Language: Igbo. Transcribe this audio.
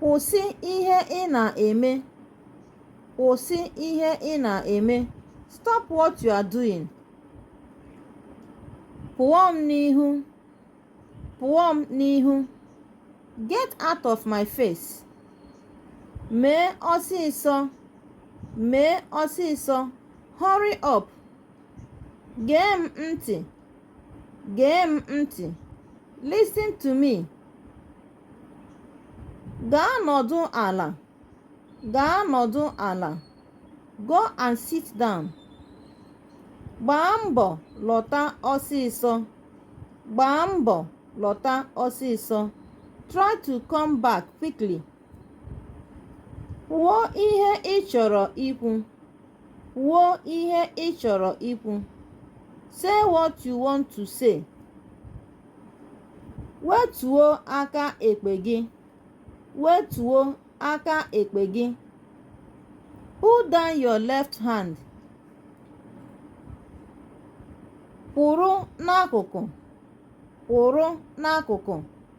Kwụsị ihe ị na-eme. Kwụsị ihe ị na-eme. Stop what you are doing. Pụọ m n'ihu. Pụọ m n'ihu. Get out of my face. Mee ọsịsọ. Mee ọsịsọ. Hurry up. Gee m ntị. gee m ntị listen to me gaa nọdụ ala gaa nọdụ ala go and sit down gbaa mbọ lọta ọsịsọ gbaa mbọ lọta ọsịsọ try to come back quickly Kwuo ihe ị chọrọ ikwu. Kwuo ihe ị chọrọ ikwu. Say what you want to say. Wetuo aka ekpe gị. Wetuo aka ekpe gị. Put down your left hand. Kwụrụ n'akụkụ. Kwụrụ n'akụkụ.